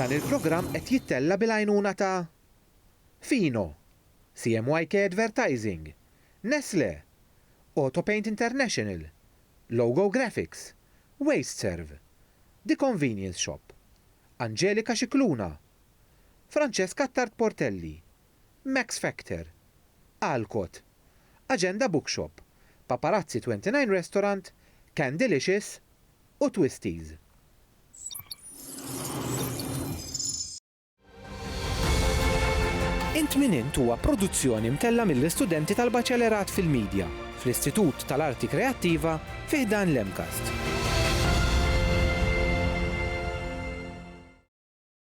Dan il-programm qed jittella' bil-għajnuna ta' Fino, CMYK Advertising, Nestlé, Autopaint International, Logo Graphics, Wasteserv, The Convenience Shop, Angelica Scicluna, Francesca Attard Portelli, Max Factor, Alcott, Agenda Bookshop, Paparazzi 29 Restaurant, Candylicious u Twisties. Int Min Int huwa produzzjoni mtellgħa mill-istudenti tal-Baċelerat fil-Midja fl-Istitut tal-Arti Kreattiva fi ħdan l-MCAST.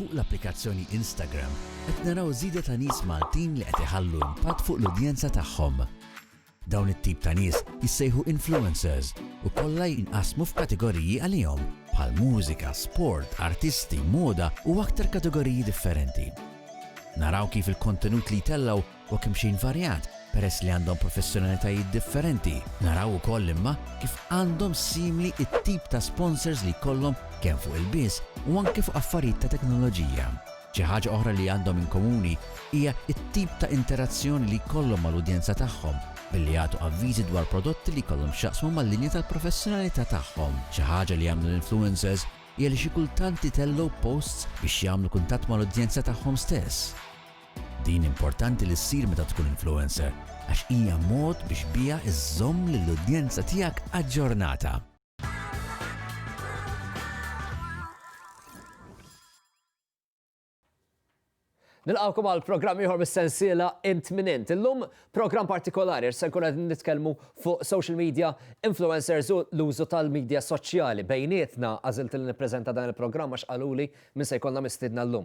Fuq l-applikazzjoni Instagram qed naraw żieda ta' nies Maltin li qed iħallu impatt fuq l-udjenza tagħhom. Dawn it-tip ta' nies jissejħu influencers u kollha jinqasmu f'kategoriji għalihom, bħal mużika, sport, artisti, moda u aktar kategoriji differenti. Naraw kif il-kontenut li jtellgħu u kemxejn varjat peress li għandhom professjonalitajiet differenti, naraw ukoll imma kif għandhom simili t-tip ta' sponsors li jkollhom kemm fuq ilbies u anke fuq affarijiet ta' teknoloġija. Xi ħaġa oħra li għandhom inkomuni hija t-tip ta' interazzjoni li jkollhom mal-udjenza tagħhom billi jagħtu avviżi dwar prodotti li jkollhom x'jaqsmu mal-linja tal-professjonalità tagħhom. Xi ħaġa li jagħmlu l-influencers hija li xi kultant itellgħu posts biex jagħmlu kuntatt mal-udjenza tagħhom stess. Din importanti li ssir meta tkun influencer għax hija mod biex biha żżomm lill-udjenza tiegħek aġġornata. Nilqgħukom għal programm ieħor mis-sensiela Imtminent. Illum programm partikolari se nkun qed nitkellmu fuq social media, influencers u l-użu tal-media soċjali. Bejnietna għażilt li nippreżenta dan il-programm għax qaluli min se jkollna mistiedna llum.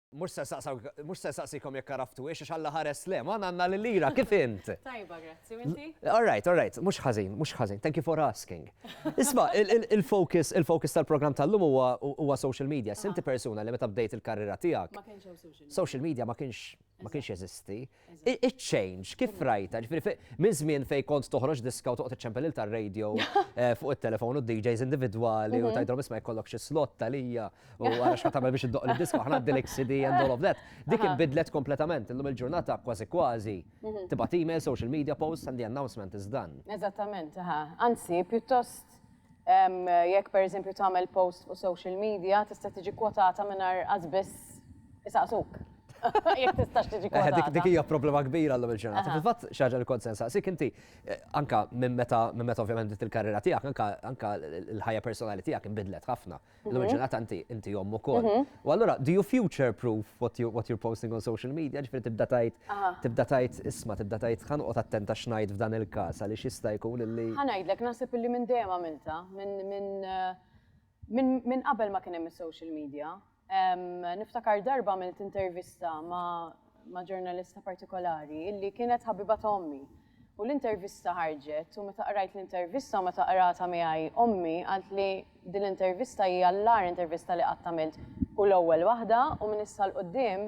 Mhux se nsaqsawk, mhux se nsaqsikom jekk għaraftuhiex għax Alla ħares le, ma għandna lil Lira, kif int? Tajba, grazzi, u inti? All right, all right, mhux ħażin, mhux ħażin, thank you for asking. Isma', il- il- il-focus, il-focus tal-programm tal-lum huwa huwa social media. Sinti persuna li meta bdejt il-karriera tiegħek, Ma kienx hemm social media. social media ma kienx ma kienx jeżisti. Iċ-change, kif rajta? Ġifieri minn żmien fejn kont toħroġ diska u toqgħod iċċempel il tar-radio eh, fuq it-telefon u DJs individwali u mhm. tgħidhom isma' jkollok xi slot tal-hija u għara x'ħad tagħmel biex iddoq il-diska aħna għaddilek CD and all of that. Dik inbidlet kompletament illum il-ġurnata kważi kważi mhm. tibgħat email, social media posts and the announcement is done. Eżattament, Anzi, pjuttost Jekk pereżempju tagħmel post fuq social media tista' tiġi kwotata mingħajr qatt biss isaqsuk. Jekk tistax tiġi eh, kwotata. Dik hija problema kbira llum il-ġurnata. Fil-fatt xi ħaġa li kont se nsaqsik inti eh, anka minn meta minn meta ovvjament bdiet il-karriera tiegħek anka l-ħajja personali tiegħek inbidlet ħafna. Illum mhm. ġurnata inti inti jom ukoll. Mhm. U allura do you future proof what you what you're posting on social media? Ġifieri tibda tajt tibda tajt isma' tibda tajt ħan qod attenta x'ngħid f'dan il-każ għaliex jista' jkun illi. Ħanajdlek naħseb illi minn dejjem għamilta minn minn eh, minn qabel ma kien hemm is-social media. Niftakar darba għamilt intervista ma' ma' ġurnalista partikolari illi kienet ħabiba ta' ommi. U l-intervista ħarġet u meta qrajt l-intervista u meta qratha miegħi ommi qalt li din l-intervista hija l-agħar intervista li qatt għamilt u l-ewwel waħda u minn issa 'l quddiem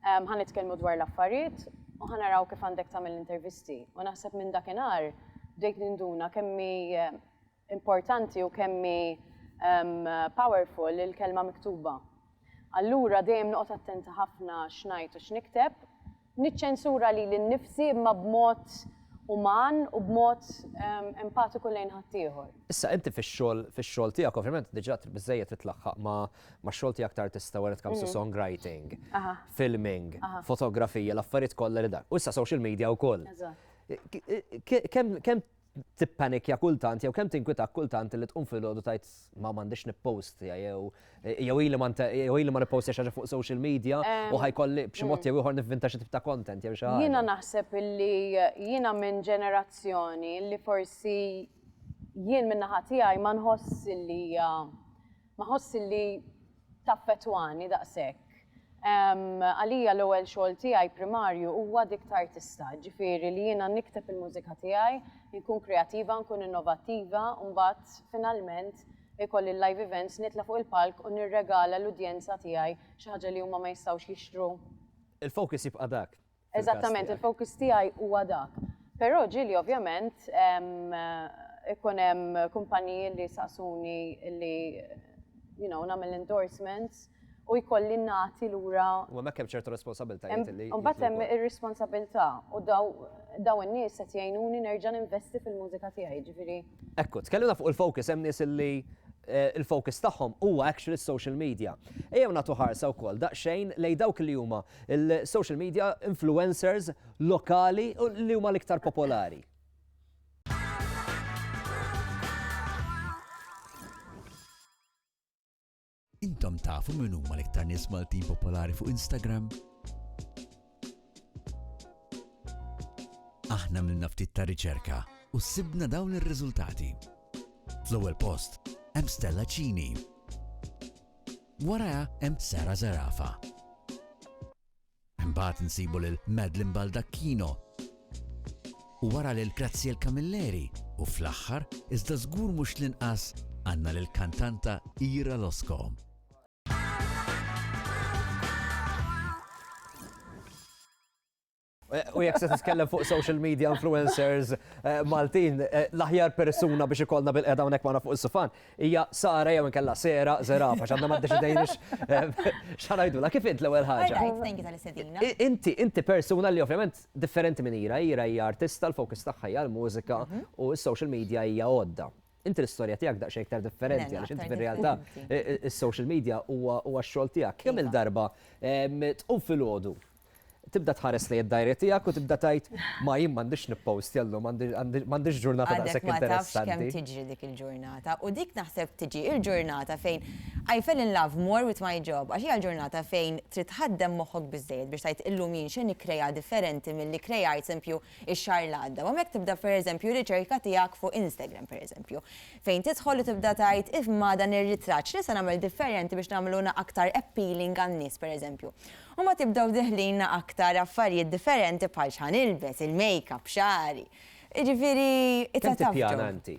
ħa nitkellmu dwar l-affarijiet u ħa naraw kif għandek tagħmel l-intervisti. U naħseb minn dakinhar bdejt ninduna kemm hi importanti u kemm hi powerful il-kelma miktuba. Allura dejjem noqgħod attenta ħafna x'ngħid u x'nikteb. Niċċensura lili nnifsi imma b'mod uman u b'mod empatiku lejn ħaddieħor. Issa inti fix-xogħol fix-xogħol tiegħek ovvjament diġà trid biżżejjed titlaħħaq ma' max-xogħol tiegħek ta' artista when it comes to songwriting, filming, fotografija, l-affarijiet kollha li dak. U issa social media wkoll. Kemm tippanikja kultant jew kemm tinkwitak kultant li tqum filgħodu tajt ma m'għandix nippostja jew jew ili ma jew ili ma nippostja xi fuq social media u ħajkolli b'xi mod jew ieħor nivvinta xi tip ta' content jew xi ħaġa. Jiena naħseb illi jiena minn ġenerazzjoni li forsi jien min-naħa tiegħi ma nħoss illi hija Ma ħossx li taffettwani daqshekk. Għalija l-ewwel xogħol tiegħi primarju huwa dik ta' artista, ġifieri li jiena nikteb il-mużika tiegħi, inkun kreattiva, nkun innovattiva u mbagħad finalment ikolli l-live events, nitla' fuq il-palk u nirregala l-udjenza tiegħi xi ħaġa li huma ma jistgħux jixtru. Il-focus jibqa' dak. Eżattament, il-fokus tiegħi huwa dak. Però ġieli ovvjament ikun hemm kumpaniji li saqsuni li you know, nagħmel endorsements u jkolli nagħti lura. U hemmhekk hemm ċertu responsabiltajiet li. Mbagħad hemm ir-responsabilità u daw in-nies qed jgħinuni nerġa' ninvesti fil-mużika tiegħi, ġifieri. Ekku, tkellimna fuq il-focus, hemm nies li il-focus tagħhom huwa actually s-social media. Ejjew nagħtu ħarsa wkoll daqsxejn lejn dawk li huma l-social media influencers lokali li huma l-iktar popolari. Intom tafu min huma l-iktar nies Maltin popolari fuq Instagram? Aħna milna ftit ta' riċerka u sibna dawn ir-riżultati. Fl-ewwel post hemm Stella Cini. Waraha hemm Sara Zarafa. Imbagħad nsibu lil Madeline Baldacchino u wara lil Graziel Camilleri u fl-aħħar, iżda żgur mhux l-inqas, għandna lill-kantanta Ira Loscombe. U jek se titkellem fuq social media influencers eh, Maltin, eh, l-aħjar persuna biex ikollna bil-qeda hawnhekk magħna fuq is-sufan, Hija Sara jew inkella Sera Zerafa għax għadna ma ddeċidejniex x'ħa ngħidulha. Kif int l-ewwel ħaġa? Inti inti persuna li ovvjament differenti minn Ira, Ira hija artista l-focus tagħha hija l-mużika u s-social media hija għodda. Inti l-istorja tiegħek daqsxejn iktar differenti għaliex inti fir-realtà is-social media huwa x-xogħol tiegħek. Kemm-il darba tqum filgħodu Tibda tħares lejn id-dajri tiegħek u tibda tgħid, ma jien m'għandix nippostja llum, m'għandix ġurnata daqshekk interessanti. Għadek ma tafx kemm tiġri dik il-ġurnata. U dik naħseb tiġi l-ġurnata fejn I fell in love more with my job għax hija l-ġurnata fejn trid tħaddem moħħok biżżejjed biex tgħid illum jien x'se nikkrea differenti milli kkrejajt esempio x-xahar li għadda. U hemmhekk tibda pereżempju r-riċerka tiegħek fuq Instagram pereżempju. Fejn tidħol u tibda tgħid imma dan ir-ritratt x'nista' nagħmel differenti biex nagħmlu aktar appealing għan-nies pereżempju. U ma tibdew deħlinna aktar affarijiet differenti bħal x'ħa nilbes, il-makeup, xagħri. Jiġifieri it's a tough job. Kemm tippjana inti?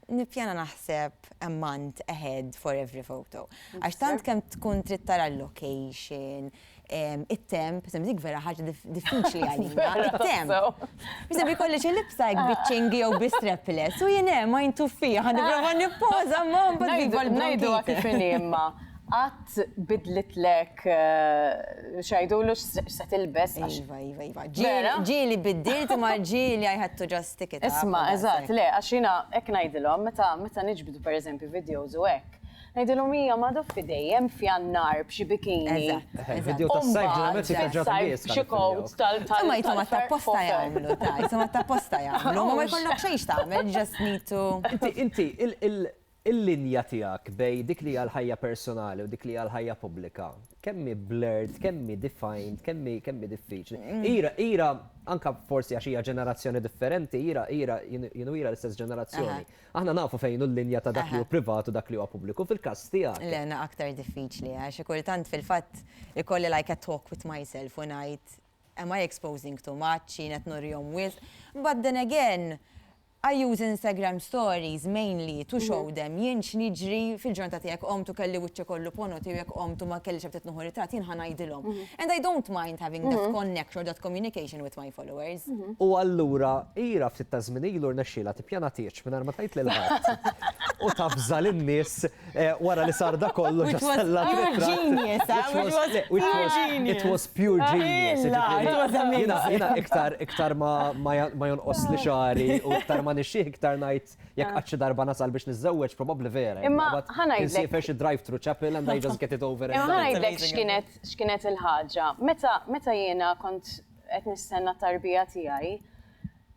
Nippjana naħseb a month ahead for every photo. Għax tant kemm tkun trid tara l-location, it-temp, per eżempju dik vera ħaġa diffiċli għalina, it-temp. Per eżempju jkolli xi libsa hekk biċ-ċingi jew bi strapless u jien hemm għajn tuffieħa nipprova nippoża imma mbagħad. Ngħidu kif inhi imma qatt tbiddlitlek xi jgħidulu x'se tilbes għax. Iva, iva, iva. Vera? Ġieli biddilt imma ġieli I had to just stick it out. Isma', eżatt, le, għax jiena hekk ngħidilhom meta meta niġbdu pereżempju videos u hekk, ngħidilhom hija ma doffi dejjem f'Jannar b'xi bikini. Eżatt, eżatt. Il-video tas-sajf ġeneralment jibqa' ġa fil-bies. Xi coat tal. Imma jidhom għad tapposta jagħmlu, ta' jidhom għad tapposta jagħmlu. Ma jkollok xejn x'tagħmel, just need to. Inti, inti, Il-linja tiegħek bejn dik li hija l-ħajja personali u dik li hija l-ħajja pubblika, kemm hi blurred, kemm hi defined, kemm hi kemm hi diffiċli. Ira, Ira, anke forsi għax hija ġenerazzjoni differenti, Ira, Ira, jien jien u Ira l-istess ġenerazzjoni, aħna nafu fejn hu l-linja ta' dak li hu privat u dak li huwa pubbliku, fil-każ tiegħek. Le, na aktar diffiċli għax xi kultant fil-fatt ikolli like a talk with myself u ngħid, am I exposing too much, jien qed nurihom wisq? But then again, I use Instagram stories mainly to show them jien x'niġri fil-ġurnata tiegħi jekk qomt u kelli wiċċi kollu ponoti jew jekk qomt u ma kellix ftit nieħu ritratt jien ħa ngħidilhom. And I don't mind having that connect or that communication with my followers. U allura Ira ftit taż-żmien ilu rnexxielha tippjana tieġ mingħajr ma tgħid lil ħadd u tavża lin-nies Wara li sar dak kollu ġa stellat ritratt. It was pure genius. Jiena iktar ma jonqosli xagħri u iktar ma nixxih iktar ngħid jekk qatt xi darba nasal biex niżżewweġ probabli vera. Imma ħa ngħidlek. Insiefer xi drive thru chapel and I just get it over and done. Imma ħa ngħidlek x'kienet il-ħaġa. Meta jiena kont qed nistenna t-tarbija tiegħi,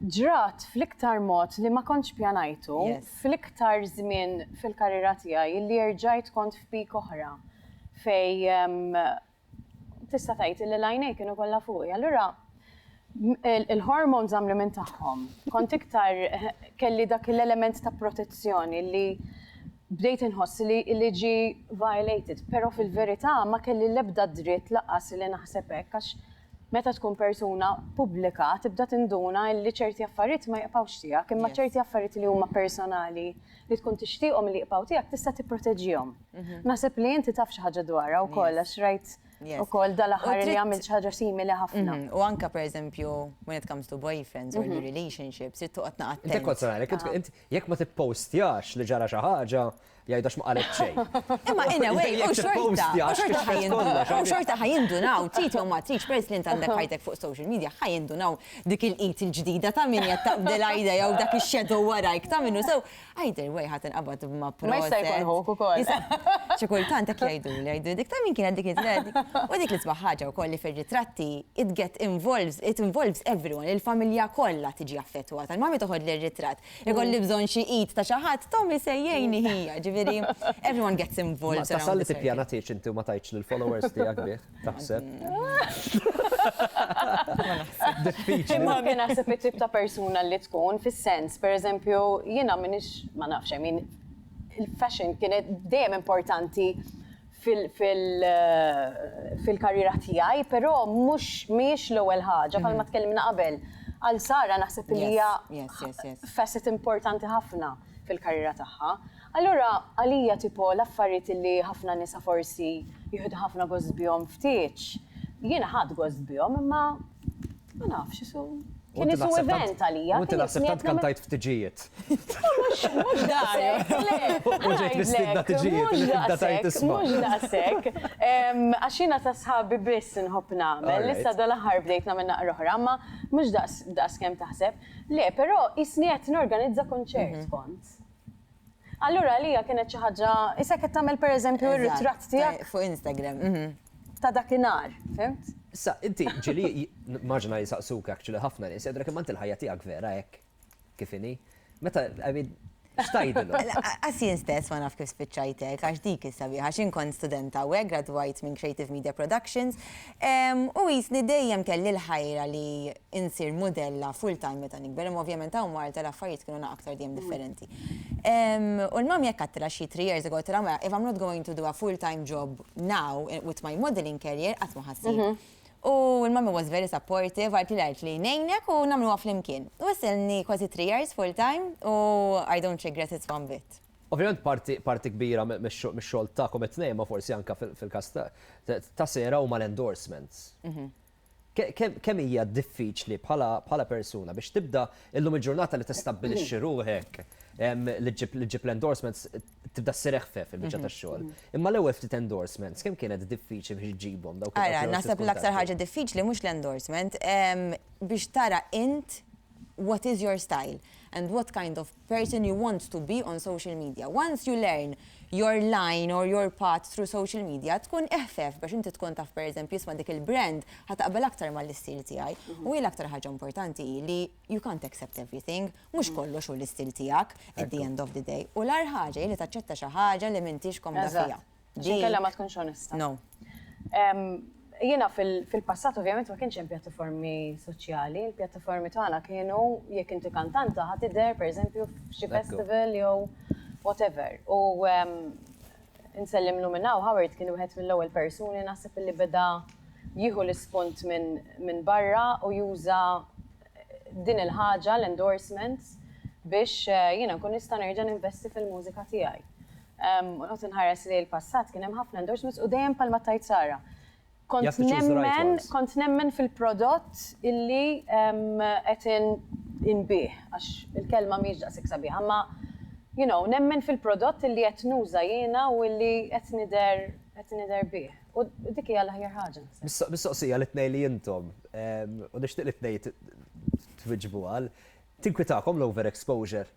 Ġrat fl-iktar mod li ma kontx pjanajtu, fl-iktar żmien fil-karriera tiegħi illi erġajt kont f'peak oħra fejn tista' tgħid illi l-għajnejn kienu kollha fuqi. Allura il-hormones għamlu minn tagħhom. Kont iktar kelli dak l-element ta' protezzjoni li bdejt inħoss li ġie violated, però fil-verità ma kelli l-ebda dritt lanqas li naħseb hekk għax Meta tkun persuna pubblika tibda tinduna li ċerti affarijiet ma jibqgħux tiegħek imma ċerti affarijiet li huma personali li tkun tixtieqhom li jibqgħu tiegħek tista' tipproteġihom. Naħseb li inti taf xi ħaġa dwarha wkoll għax rajt ukoll dal-aħħar li għamilt xi ħaġa simili ħafna. U anke pereżempju when it comes to boyfriends or relationships trid toqgħod naqra attent. Inti kont tara għalhekk jekk ma tippostjax li ġara xi ħaġa Jgħid għax ma qalet xejn. Imma in a way, u xorta, u xorta ħajindunaw, trid jew ma tridx, peress li int għandek ħajtek fuq social media, ħajindunaw dik il-qid il-ġdida ta' min qed taqbdel għajda jew dak ix-shadow warajk ta' minnu sew. Either way ħadd inqabad ma' protest. Ma jista' jkun ħuk ukoll. Xi kultant hekk jgħidu li jgħidu dik ta' min kienet dik id-dread. U dik l-isbaħ ħaġa wkoll li fir-ritratti it get involves, it involves everyone, il-familja kollha tiġi affettwata. Il-mami toħodli r-ritratt, Ikolli bżonn xi id ta' xi ħadd, Tommy se jgħinni ħija, ġifieri everyone gets involved. Tasal li tippjana tgħidx inti u ma tgħidx lill-followers tiegħek bih, taħseb. Diffiċli. Imma kien naħseb it-tip ta' persuna li tkun fis-sens, pereżempju, jiena m'iniex ma nafx, I mean, il-fashion kienet dejjem importanti fil-karriera tiegħi, però mhux mhijiex l-ewwel ħaġa bħalma tkellimna qabel. Għal Sara naħseb li hija facet importanti ħafna fil-karriera tagħha. Allura għalija tipo l-affarijiet li ħafna nisa forsi jieħdu ħafna gost bihom ftit, jiena ħadt gost bihom imma Ma nafx, isu. Kien isu event għalija. Inti naħseb tant kantajt f'tiġijiet. Mhux mhux daqshekk. U ġejt mistiedna tiġijiet li tibda tgħid isma'. Mhux daqshekk. Għax jiena ta' sħabi biss inħobb nagħmel. Issa dal-aħħar bdejt nagħmel naqra oħra, imma mhux daqs kemm taħseb. Le, però qisni qed norganizza kunċert kont. Allura għalija kienet xi ħaġa is hekk qed tagħmel pereżempju r-ritratt tiegħek. Fuq Instagram. Ta' dakinhar, fhimt? Issa, inti ġieli nimmaġina jsaqsuk actually ħafna nies, jgħidulek imma inti l-ħajja tiegħek vera hekk kif inhi? Meta, I mean, x'tgħidilhom? Lanqas jien stess ma naf kif spiċċajt hekk, għax dik hi s-sabiħa. X'jien kont studenta hawnhekk, gradwajt minn Creative Media Productions, U qisni dejjem kelli l-ħajra li insir mudella full time meta nikber, imma ovvjament hawn Malta l-affarijiet kienu naqgħa aktar dejjem differenti. U l-mam jekk għattila xi three years ago għattila mela if I'm not going to do a full time job now with my modeling career qatt ma ħassib. U l-mummy was very supportive għaltli għalt li ngħinek u nagħmluha flimkien. U issa ilni kważi three years full time u I don't regret it one bit. Ovvjament parti parti kbira mix-xogħol tagħkom it-tnejn ma forsi anke fil-każ ta' Sarah huma l-endorsements. Kemm hija diffiċli bħala persuna biex tibda illum il-ġurnata li tistabbilixxi ruħek li ġġib l-endorsements tibda ssir eħfef fil-biċċa tax-xogħol. Imma l-ewwel ftit endorsements kemm kienet diffiċli biex iġġibhom dawk il-persuni. Ara, naħseb l-aktar ħaġa diffiċli mhux l-endorsement biex tara int what is your style and what kind of person you want to be on social media. Once you learn your line or your path through social media, tkun eħfef biex inti tkun taf per eżempju isma' dik il-brand ħa taqbel aktar mal-istil tiegħi. U hi l-aktar ħaġa importanti hi li you can't accept everything, mhux kollox hu l-istil tiegħek at the end of the day. U l-agħar ħaġa hi li taċċetta xi ħaġa li m'intix komda fiha. Għax inkella ma tkunx onesta. No. Jiena fil-passat ovvjament ma kienx hemm pjattaformi soċjali, il-pjattaformi tagħna kienu jekk inti kantanta ħa tidher pereżempju f'xi festival jew whatever. U nsellimlu minn hawn Howard kien wieħed mill-ewwel persuni naħseb li beda jieħu l-ispunt minn barra u juża din il-ħaġa, l-endorsements, biex jiena nkun nista' nerġa' ninvesti fil-mużika tiegħi. U noqgħod inħares lejn il-passat, kien hemm ħafna endorsements u dejjem bħalma tgħid Sara, kont nemmen fil-prodott illi qed inbigħ, għax il-kelma mhijiex daqshekk sabiħa, imma you know, nemmen fil-prodott illi qed nuża jiena u illi qed nidher bih. U dik hija l-aħjar ħaġa. Mistoqsija li tnej li intom, u nixtieq li tnej twiġbu għal, tinkwitakom l-overexposure?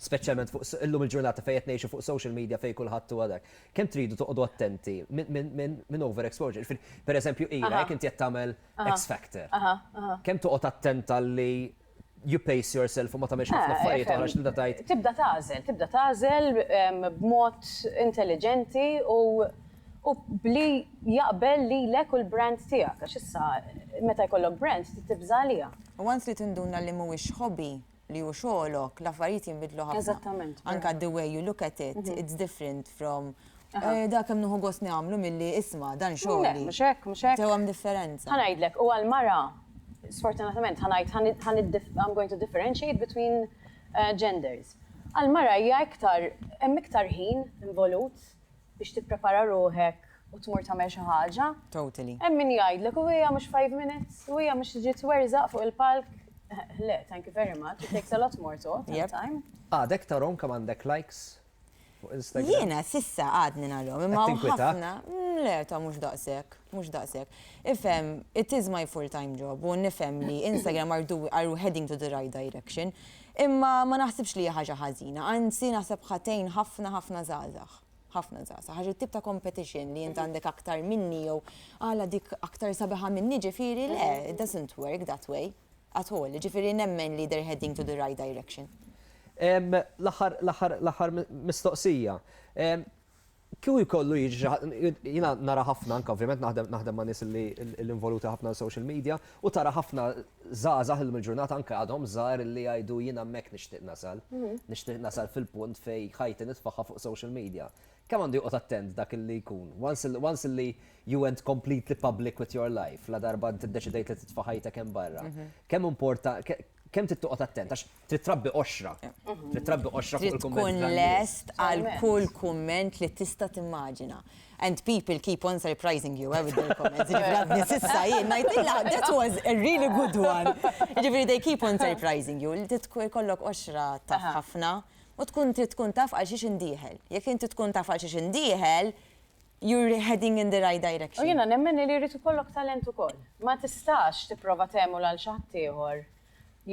Speċjalment fuq illum il-ġurnata fejn qed ngħixu fuq social media fejn kulħadd huwa dak. Kemm tridu toqgħodu attenti minn overexposure? Ġifieri, pereżempju, ila jekk inti qed tagħmel X Factor. Kemm toqgħod attent għal li you pace yourself u ma tagħmilx ħafna affarijiet oħra x'tibda tgħid. Tibda tagħżel, tibda tagħżel b'mod intelliġenti u u bli jaqbel lilek u l-brand tiegħek għax issa meta jkollok brand tibża' għaliha. Once li tinduna li mhuwiex hobby, li hu xogħolok, l-affarijiet jinbidlu ħafna. Eżattament. Anke the way you look at it, it's different from Eh, da kemm nuħu gost nagħmlu milli isma' dan xogħli. Mhux hekk, mhux hekk. Sew hemm differenza. Ħa ngħidlek, u għal mara, sfortunatament ħa ngħid I'm going to differentiate between eh, genders. Għal mara hija iktar hemm iktar ħin involut biex tipprepara ruħek u tmur tagħmel xi ħaġa. Totally. Hemm min jgħidlek u hija mhux five minutes, u hija mhux tiġi twerżaq fuq il-palk. Le, thank you very much. It takes a lot more to time. Għadek tarom kemm għandek likes Jiena sissa għadni narhom, imma ħafna. Le, ta' mhux daqshekk, mhux daqshekk. Ifhem, it is my full time job u nifhem li Instagram are heading to the right direction, imma ma naħsibx li hija ħaġa ħażina, anzi naħseb ħa tgħin ħafna ħafna żgħażagħ. Ħafna żgħażagħ. Għax it-tip ta' competition li int għandek aktar minni jew għala dik aktar sabiħa minni ġifieri le, it doesn't work that way. at all, jiġifieri nemmen li they're heading to the right direction. L-aħħar mistoqsija. Kieku jkollu jiġi xi ħadd, jiena nara ħafna anke ovvjament naħdem ma' nies li involuti ħafna fis-social media u tara ħafna żgħażagħ illum il-ġurnata anke għadhom żgħar li jgħidu jiena hemmhekk nixtieq nasal. Nixtieq nasal fil-punt fejn ħajti nitfagħha fuq social media. Kemm għandu joqgħod attent dak li jkun. Once li, once li you went completely public with your life, ladarba int iddeċidejt li titfa' ħajtek hemm barra, kemm importa, ke, kemm trid toqgħod attent għax trid trabbi qoxra. Trid trabbi qoxra fuq il-kummenti tan-nies. Trid tkun lest għal kull kumment li tista' timmaġina. And people keep on surprising you, eh, with their comments. Jiġifieri għadni s'issa jien ngħidilha, that was a really good one. Jiġifieri they keep on surprising you. Trid ikollok qoxra taf ħafna U tkun trid tkun taf għal xiex indieħel. Jekk inti tkun taf għal xiex indieħel, you're heading in the right direction. U jiena nemmen li jrid ikollok talent ukoll. Ma tistax tipprova tgħemul għal xi ħadd ieħor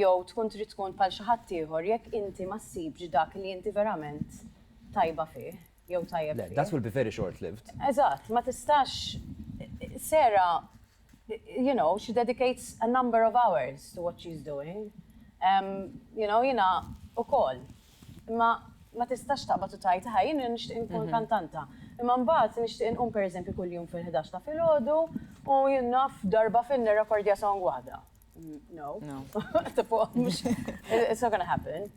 jew tkun trid tkun bħal xi ħadd ieħor jekk inti ma ssibx dak li inti verament tajba fih jew tajjeb fih. Le, that will be very short-lived. Eżatt, ma tistax, Sarah you know, she dedicates a number of hours to what she is doing, you know, jiena ukoll. Imma ma tistax taqbad u tgħid, aha, jiena nixtieq inkun kantanta. Imma mbagħad nixtieq inqum pereżempju kuljum fil-ħdax ta' filgħodu u jien naf darba fil-nirrekordja song waħda. No. No. It's not gonna happen.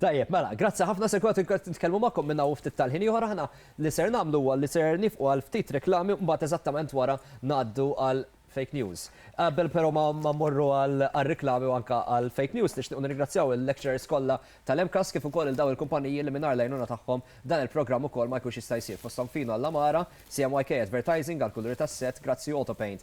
Tajjeb, mela, grazzi ħafna se kwat nitkellmu magħkom minna u ftit tal-ħin ieħor aħna li ser nagħmlu huwa li ser nifqu għal ftit reklami mbagħad eżattament wara ngħaddu għal fake news. Qabel però ma morru għal reklami u anka għal fake news nixtiequ nirringrazzjaw il-lecturers kollha tal-MCAS kif ukoll il daw il-kumpaniji li mingħajr lajnuna tagħhom dan il-programm ukoll ma jkunx jista' jsir fosthom fino għall-Amara, CMYK Advertising għal kuluri tas-set, grazzi Autopaint.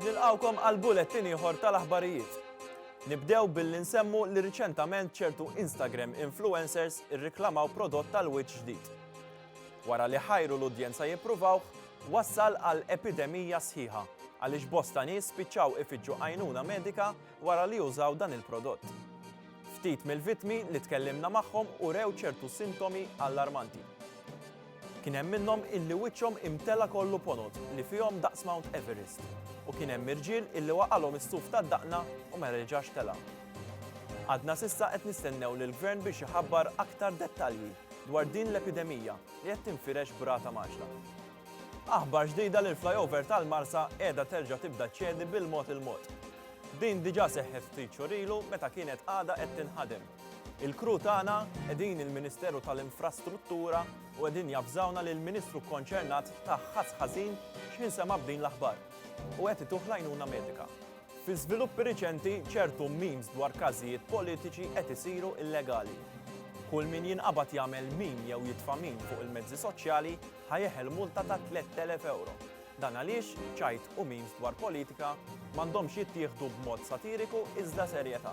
Nilqgħukom għal bulletin ieħor tal-aħbarijiet. Nibdew billi nsemmu li riċentament ċertu Instagram influencers irriklamaw prodott tal-wiċċ ġdid. Wara li ħajru l-udjenza jippruvaw, wassal għal epidemija sħiħa għaliex bosta nies spiċċaw ifittxu għajnuna medika wara li użaw dan il-prodott. Ftit mill-vitmi li tkellimna magħhom u rew ċertu sintomi allarmanti. Kien hemm minnhom illi wiċċhom imtela' kollu ponot li fihom daqs Mount Everest, u kien hemm irġiel illi waqagħlhom is-suf tad-daqna u ma reġax tela'. Għadna s'issa qed nistennew lill-Gvern biex iħabbar aktar dettalji dwar din l-epidemija li qed tinfirex b'rata mgħaġġla. Aħbar ġdida li l-flyover tal-Marsa qiegħda terġa' tibda ċċedi bil-mod il-mod. Din diġà seħħet ftit xhur ilu meta kienet għadha qed tinħadem. Il-crew tagħna qegħdin il-Ministeru tal-Infrastruttura u qegħdin javżawna li l-Ministru kkonċernat ta ħass ħażin x'ħin sema' b'din l-aħbar u qed ituh l-għajnuna medika. Fi żviluppi riċenti, ċertu memes dwar każijiet politiċi qed isiru illegali. Kull min jinqabad jagħmel meme jew jitfa' meme fuq il-mezzi soċjali ħa jeħel multa ta' 3,000 ewro. Dan għaliex ċajt u memes dwar politika m'għandhomx jittieħdu b'mod satiriku iżda serjetà.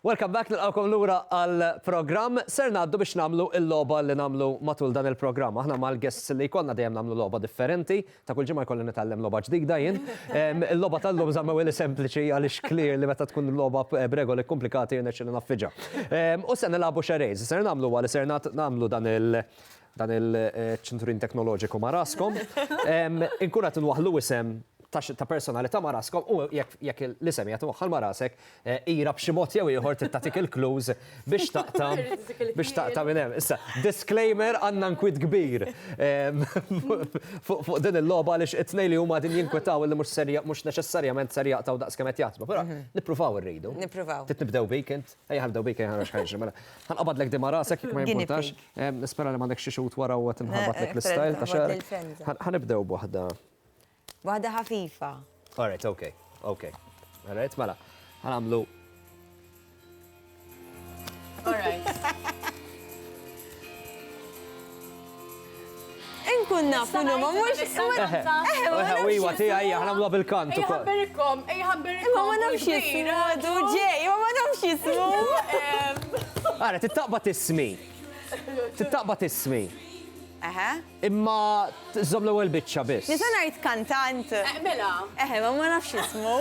Welcome back, nilqawkom lura għal-programm. Ser ngħaddu biex nagħmlu l-logħba li nagħmlu matul dan il-programm. Aħna mal-guests li jkollna dejjem nagħmlu logħba differenti, ta' kull ġimgħa jkolli nitgħallem logħba ġdida jien. Il-logħba tal-lum żamma wili sempliċi għaliex clear li meta tkun logħba b'regoli komplikati jirnexxi naffiġa. U se nilagħbu xerejs, ser nagħmlu għal ser nagħmlu dan il- dan il-ċinturin teknoloġiku ma' raskom, inkun qed inwaħħlu isem ta' personalità ma' raskom u jekk l-isem qiegħed imwaħħal ma' rasek, ira b'xi mod jew ieħor trid tagħtik il-clues biex taqta' biex taqta' minn hemm. Issa, disclaimer għandna nkwiet kbir fuq din il-logħba għaliex it-tnejn li huma qegħdin jinkwetaw illi mhux ser mhux neċessarjament ser jaqtgħu daqs kemm qed jaħsbu. Però nippruvaw irridu. Nippruvaw. Trid nibdew bik int? Ejja ħa nibdew bik ejja naraw x'ħa jiġri mela. Ħa nqabadlek din ma' rasek jekk ma jimpurtax. Nispera li m'għandekx xi xhud wara u qed inħarbatlek l-istyle ta' xagħar. Ħa nibdew b'waħda. Waħda ħafifa. All right, okay, okay. All right, mela. Ħa nagħmlu. All right. Inkun naf minn huma mhux. Iwa tiegħi hija ħnamluha bil-kant ukoll. Ħabbirikom, ej ħabbirikom. Imma ma nafx jismu għadu ġej, imma ma nafx jismu. Ara, tittaqbad ismi. Tittaqbad ismi. Eħe. Imma żomm l-ewwel biċċa biss. Nisa ngħid kantant. Mela. Eħe, ma ma nafx jismu.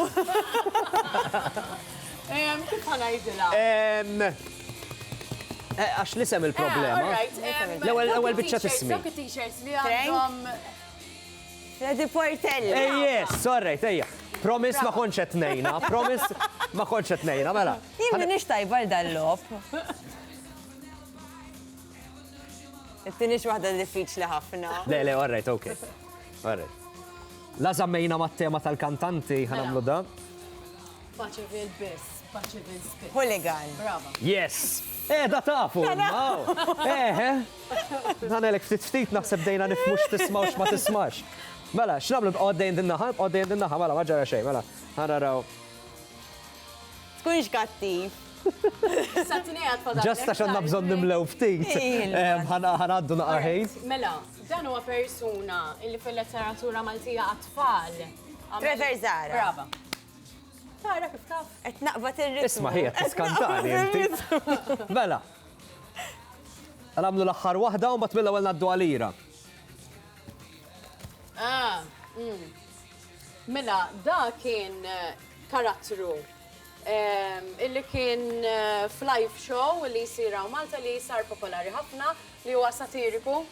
Kif ħanajdilha? Eh, għax l-isem il-problema. Ah, eh, l-ewwel biċċa tismi. Dawk it-t-shirts li għandhom. Freddy Portelli. Eh, yes, sorry, tejja. Promis ma konċet nejna, promis ma konċet nejna, mela. Jimmi nix tajba dal-lop. Tinix wahda diffiċli ħafna. Le, le, orrejt, ok. Orrejt. La zammejna ma tema tal-kantanti, ħanamlu mela. da. Faċi fil-biss. Hooligan. Brava. Yes! Eh, da tafu, eh, eh. Dan elek ftit ftit naħseb dejna nifmux tismawx ma tismax. Mela, x'nablu b'qoddejn dinnaħa, b'qoddejn dinnaħa, mela, ma ġara xejn, mela. Ħana raw. Tkunx kattiv. Ġasta xanna bżon nimlew ftit. Ħanaddu naqaħejn. Mela, dan huwa persuna illi fil-letteratura Maltija għatfall. Trevor Zara. Brava. Tara kif taf? Qed naqbad ir-ritmu. Isma' hi qed tiskantani inti. Mela. Għamlu l-aħħar waħda u mbagħad mill-ewwel ngħaddu għal ira. Ah, mm. Mela, da kien eh, karattru ehm, illi kien eh, f'live show li jisiraw Malta li sar popolari ħafna li huwa satiriku.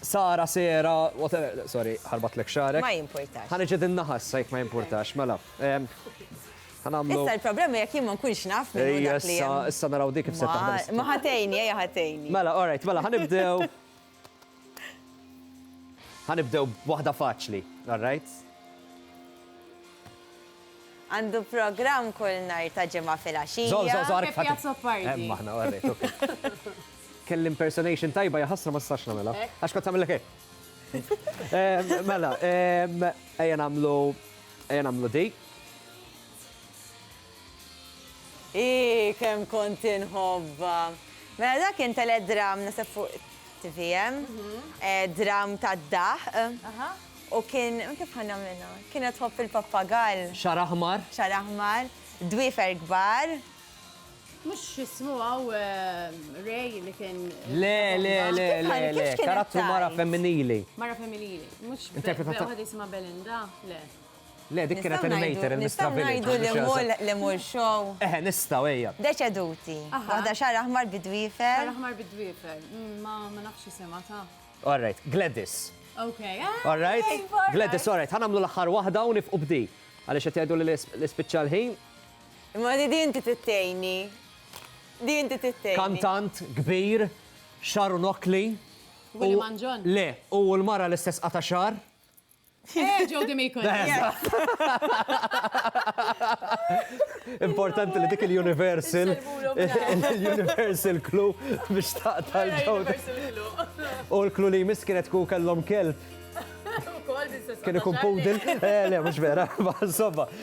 Sara, Sera, whatever, sorry, ħarbatlek xagħrek. Ma jimpurtax. Ħa niġi din naħa issa jekk ma jimpurtax, mela. Ħanamlu. Issa l-problema jekk jien ma nkunx naf minn hu dak li Issa, hemm. issa naraw dik kif se taħdem. Ma- Ma ħatejni, ejja ħatejni. Mela, all right, mela ħanibdew. Ħanibdew b'waħda faċli, all right? Għandu programm kull nhar ta' Ġimgħa filgħaxija. Fi Piazza Pardi. Hemm aħna warejtuk. Kelli impersonation tajba hija ħasra ma stax nagħmilha. Għax kont tagħmilek hekk. Mela, ejja nagħmlu ejja nagħmlu di. Ii, kemm kont inħobbha. Mela dak kien teledram naseb fuq tvm. Dram tad-daħq. U kien, kif ħa nagħmilha? Kienet tħobb il-pappagall. Xagħar aħmar. Xagħar aħmar, dwiefer kbar. Mhux x'ismu hawn Ray li kien. Le, le, le, le, le, karattru mara femminili. Mara femminili. Mhux waħda jisimha Belinda, le. Le, dik kienet animator il-Mistra Village. Nistgħu ngħidu li le mur show. Eħe, nistgħu ejja. Deċeduti. Waħda xagħar aħmar bi dwiefer. Xagħar aħmar bi dwiefer. Ma nafx isimha ta. All right, Gladys. Ok. All right? Gladys, all right, ħanamlu l-aħħar waħda u nifqu b'di. Għaliex qed jgħidu li l-ispiċċa l-ħin. Imma di di inti tittejni. Di inti tittejni. Kantant, kbir, xaru nokli. Willy Manġon. Le, u l-mara l-istess qata xar. Eh, ġew dim ikun. Importanti li dik il-Universal, il-Universal Clue biex taqta l-ġewda. U l-klu li jmiss kienet ku kellhom kelb. Kien ikun pudil, eh, le, mux vera, ma'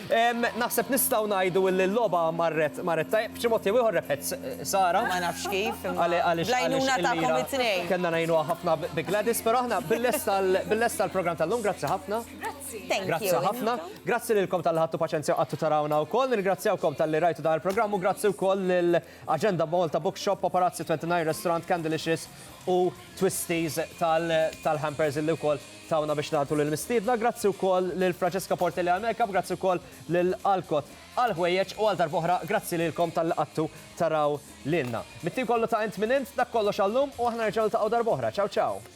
Naħseb nistgħu ngħidu li l-logħba marret marret tajjeb, b'xi mod jew ieħor rebħet Sara. Ma nafx kif imma bl-għajnuna tagħkom it-tnejn. Kellna ngħinuha ħafna bi Gladys, però aħna bil-lesta l-programm tal-lum, grazzi ħafna. Grazzi. Thank you. Grazzi ħafna. Grazzi lilkom talli ħadtu paċenzja u qgħadtu tarawna wkoll. Nirringrazzjawkom talli rajtu dan il-programm u grazzi wkoll lil Agenda Malta Bookshop, Paparazzi 29 Restaurant, Candylicious u Twisties tal-hampers illi wkoll tawna biex nagħtu lill-mistiedna. Grazzi wkoll lil Francesca Portelli għall-makeup, grazzi wkoll lil Alcott għall-ħwejjeġ u għal darb'oħra grazzi lilkom talli qgħadtu taraw lilna. Mit-tim kollu ta' Int Min Int, dak kollox għallum u aħna nerġgħu niltaqgħu darb'oħra. Ciao ciao!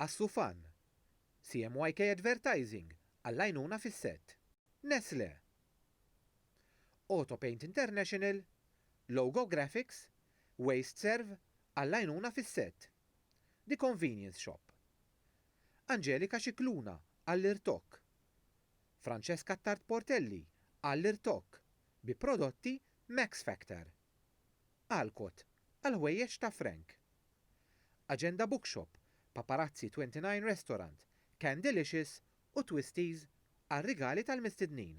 Għas-Sufan, CMYK Advertising għall-għajnuna fis-sett. Nestlé, Autopaint International, Logo Graphics, WasteServ għall-għajnuna fis-sett. The Convenience Shop, Angelika Scicluna għall-irtokk. Francesca Attard Portelli għall-irtokk bi prodotti Max Factor. Alcott għall-ħwejjeġ ta' Frank. Agenda Bookshop, Paparazzi 29 Restaurant, Candylicious u Twisties għar-rigali tal-mistednin.